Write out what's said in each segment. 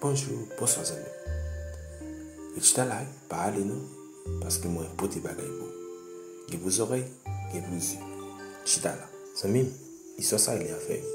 Bonjou, bonswa zanmi m. Richita la wi, pa ale non, paske mwen pote bagay pou ou. Gen pou zòrèy, gen pou zye. Chita la. Zanmi m, istwa sa rele anfè wi.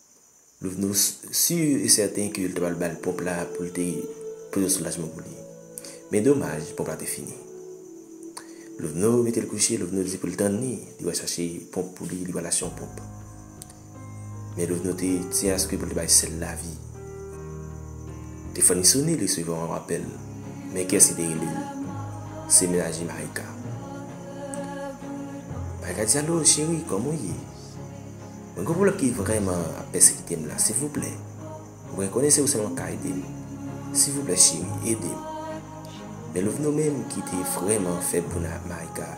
Nou sur e sèten ke yo te pral ba l pòp la pou l te poze yon soulajman pou li. Men domaj, pòp la te fini. Loveno mete l kouche, Loveno di pou l tann li, li pral chache pòp pou li, li pral achte yon pòp. Men Loveno te di aske pou l te bay sèl lavi. Telefòn li sone, li resevwa yon apèl. Men kiyès ki te rele l? Se menaje Marika. Marika di, Alo cheri, kòman w ye? Mwen gen yon pwoblèm ki vrèman ap pèsekite m la silvouplè mwen konnen se ou sèlman ka ede m silvouplè cheri ede m men Louvno menm ki te vrèman fè Bouna ak Maïka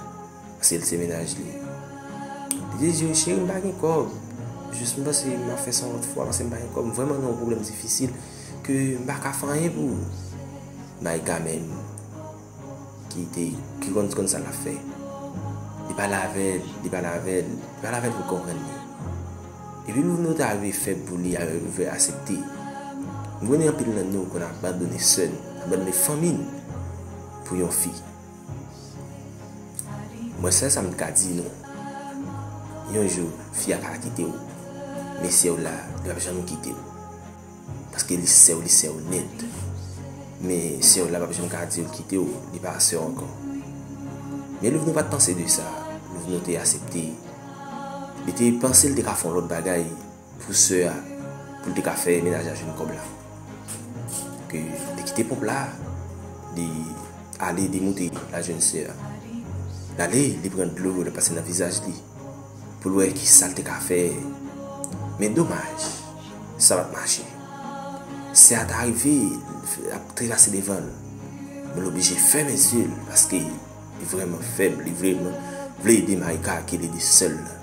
paske l se mennaj li li te di yo cheri m pa gen kòb jis m panse m ap fè sa yon lòt fwa paske m pa gen kòb m vrèman gen yon pwoblèm difisil ke m pa ka fè anyen pou ou Maïka menm. ki te ki konn konn sa lap fè li pale avèl li pale avèl li pale avèl pou l konprann li epi nou nou ta rive fè pou li al rive asepte m konnen anpil nan nou konn abandone sè n abandone fanmi n pou yon fi mwen sèl sa m ka di nou yon jou fi a ka kite w men si w la li pap janm kite w Paske li sèw li sèw nèt. Men sèw la pap janm ka diw kitew li pa sèw ankò. Men Louvno pat panse de sa, Louvno te asepte. Li te panse li te ka fè yon lòt bagay pou sè a poul te ka fè menaj la jwenn kòb la. Donk li te kite ponp la, li ale li moute al jwenn sè a. Li ale li pran dlo li pase nan vizaj li poul wè kisal te ka fè. Men domaj. Sa pat mache. Sè a ta rive l ap trepase devan l. Men l oblije fèmen zye l paske li vrèman fèb, li vrèman vle ede Maïka ke l ede sè l lan.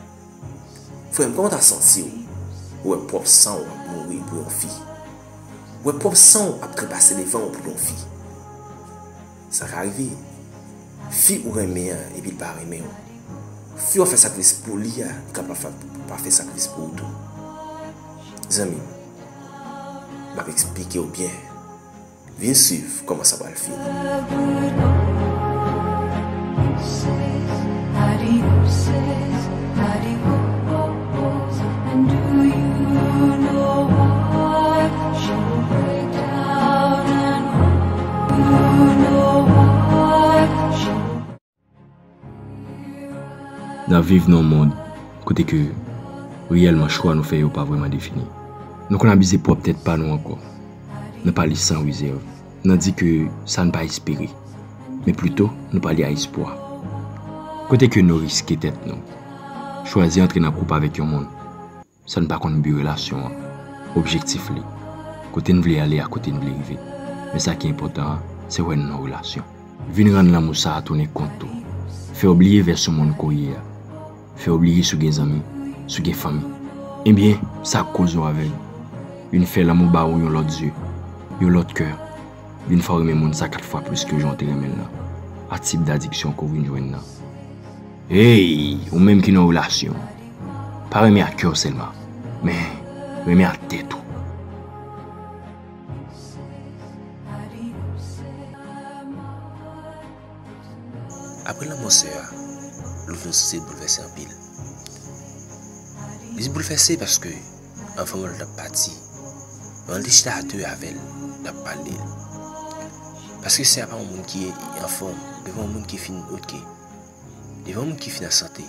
Frè m, kòman w ta santi w ou wè pwòp san w ap mouri pou yon fi? Ou wè pwòp san w ap trepase devan w pou yon fi? Sa ka rive. Fi ou renmen an epi li pa renmen w. Fi wap fè sakrifis pou li a li ka pa fè sakrifis pou ou tou. Zanmi m, map eksplike w byen. Vin swiv kòman sa pral fini. Nap viv nan yon mond kote ke reyèlman chwa nou fè yo pa vreman defini. Nou konn abize pwòp tèt pa nou ankò. Nan pale san rezèv. nan di ke sa n pa espere, men plito nou pale a espwa. Kote ke nou riske tèt nou, chwazi antre nan koup avèk yon moun, san n pa konn bi relasyon an, objektif li, kote n vle ale ak kote n vle rive, men sa ki enpòtan an, se wè n nan relasyon. Vin rann lanmou sa a tounen kont ou, fè w bliye vèsyon moun ke w ye a. fè w bliye si w gen zanmi, si w gen fanmi. Ebyen, sa k koz nou avèg? Vin fè lanmou ba ou yon lòt zye, yon lòt kè. Vin fè w renmen moun sa kat fwa plis ke jan w te renmen l lan. A tip dadiksyon ke w vin jwenn lan. Hey! Ou menm ki nan yon relasyon, pa renmen ak kè w sèlman, men renmen ak tèt ou. Apre lanmò sè a, Louvno Sise boulvèse anpil. Li te boulvèse paske anvan menm l t ap pati, manman l te chita a de avè l, l ap pale l. Paske sè a pa yon moun ki anfòm devan yon moun ki fin oke, devan yon moun ki fin an sante.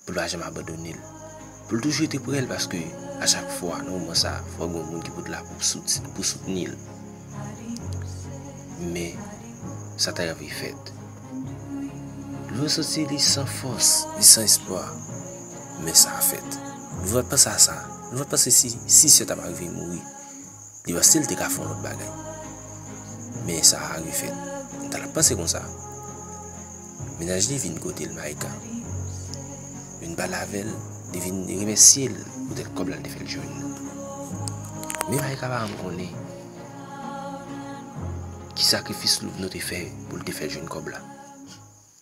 Pou l pa janm abandone l. Pou l toujou rete prè l paske a chak fwa nan moman sa fò gen yon moun ki pou t la pou soutni l. Men sa ta rive fèt. Lou santi li san fòs, li san espwa. Men sa fèt. Lou va panse a sa. Lou va panse si sè ta pa rive mouri. Deyò sil te ka fon lòt bagay. Men sa Harry fèt. M ta la panse konsa. Mennaj li vin kotel Micah. Vin pale avèl, li vin remèsyel poutèt kòb la li te fèl jwenn. Men Micah pa janm konnen ki sakrifis Louvno te fè poul te fèl jwenn kòb la.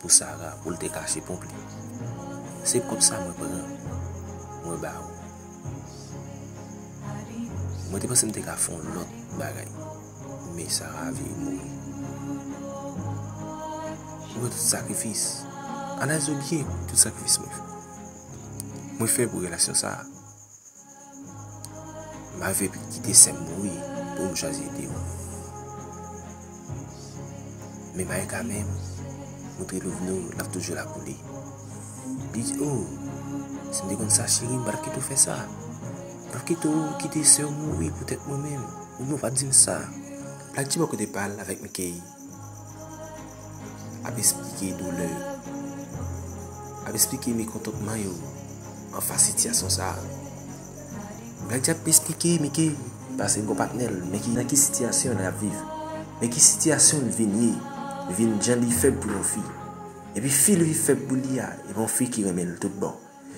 Pou Sara pou l te kache ponp li. Se ponp sa mwen pran. Mwen ba ou. Mwen te panse m te ka fon lòt bagay. Men Sara vire mouri. Mwen tout sakrifis. Analize byen tout sakrifis mwen fè. Mwen fè pou relasyon sa a. Ma vie pi kite sèm mouri pou m chwazi ede w. Men pa gen ka men, montre love nou l ap toujou la pou li. Li di oh, si m te konn sa cheri m pa t ap kite w fè sa. M pa t ap kite w kite sè w mouri poutèt mwen menm. Ou menm ou pa t di m sa. Black G bò kote pa l avèk Mickey. ap esplike doulè yo, ap esplike mekontantman yo anfas sitiyasyon sa a. Black Jack ap esplike Mike, paske li gon patnè l, men ki nan ki sitiyasyon li ap viv, men ki sitiyasyon li vin ye, li vin jan li fèb pou yon fi. Epi fi li fèb pou li a, epi yon fi ki renmen l tout bon.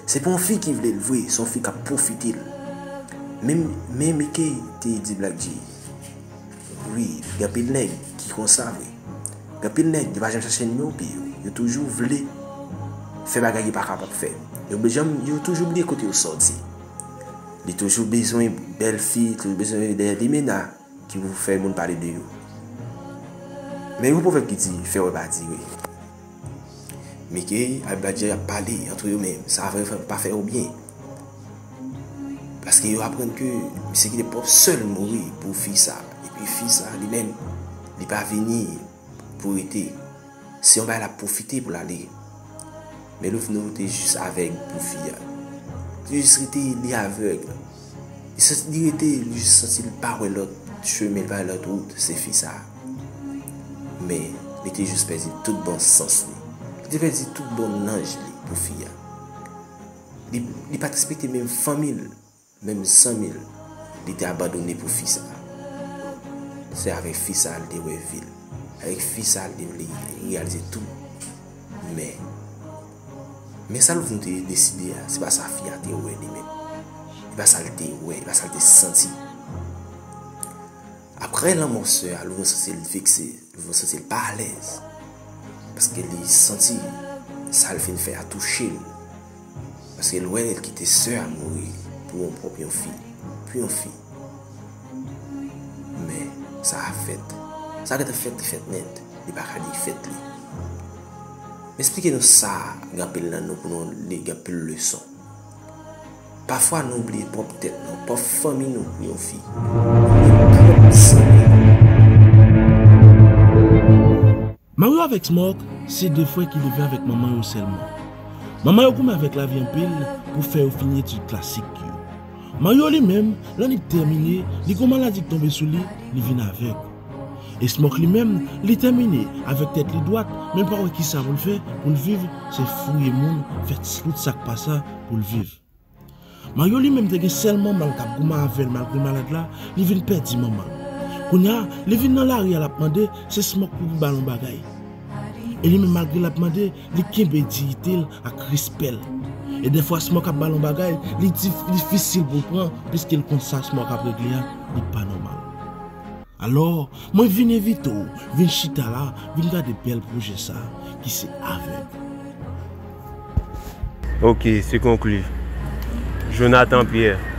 Se pa yon fi ki vle l vre, se yon fi k ap pwofite l. Men Mike te di Black G, Wi, gen anpil nèg ki konsa vre. Gen anpil nèg, yo pa janm chache non pi yo. Yo toujou vle fè bagay yo pa kapab fè. Yo toujou bliye kote yo soti. Li toujou bezwen bèl fi, li toujou bezwen dèyè limena. Ki pou fè moun pale de yo. Men yon pwovèb ki di, fè wè pa dire. Mickey ak Black Jay ap pale antre yo men sa vrè vrè pa fè yo byen. Paske yo aprann ke misye ki te pwòp sè l mouri pou fi sa. Epi fi sa li menm li pa vini. pou rete. Se yon bagay lap pwofite pou l ale. Men love nou te jis avèg pou fi a. Li te jis rete li avèg. Li rete li jis santi li pa wè lòt chemen, li pa wè lòt wout se fi sa. Men li te jis pèdi tout bon sans li. Li te pèdi tout bon nanj li pou fi a. Li pat respekte menm fanmi l. Menm san mil li te abandone pou fi sa. Se avek fi sa li te we vil. Avek fi sa li te realize tout. Men. Men sa louvni te deside a. Se pa sa fi a te we li menm. Se pa sa li te we. Se pa sa li te santi. Apre lanmo se a louvni se se li fikse. Mwen santi l pa alèz. Paske li santi sa l fin fè a touche l. Paske l wè l kite sè a mouri pou yon pwòp yon fi. Pou yon fi. Men, sa a fèt. Sa gentan fèt li fèt nèt. Li pa ka defèt li. M esplike nou sa gen anpil nan nou pou nou li gen anpil leson. Pafwa nou bliye pwòp tèt nou, pwòp fanmi nou pou yon fi, ou menm pwòp zanmi nou. Mario avèk Smòk se de frè ki leve avèk manman yo sèlman. Manman yo goumen avèk lavi anpil pou fè yo fini etid klasik yo. Mario li menm, lè li tèmine, li gen yon maladi ki tonbe sou li, li vin avèg. Esmòk li menm, li tèmine avèk tèt li dwat men pa wè kisa pou l fè pou l viv se fouye moun fè tout sa k pa sa pou l viv. Maryo li menm te gen sèl manman l k ap goumen avè l malgre malad la, li vin pèdi manman l. Kounya li vin nan lari a l ap mande se Smòk pou pou ba l yon bagay. E li menm malgre l ap mande li kenbe diyite l ak respè l. E dèfwa Smòk ap ba l yon bagay li difisil pou l pran piske l konn sa Smòk ap regle a li pa nòmal. Alò, mwen vin envite w vin chita la, vin gade bèl pwojè sa ki se avèg. Ok, se konkli. Jonathan Pierre.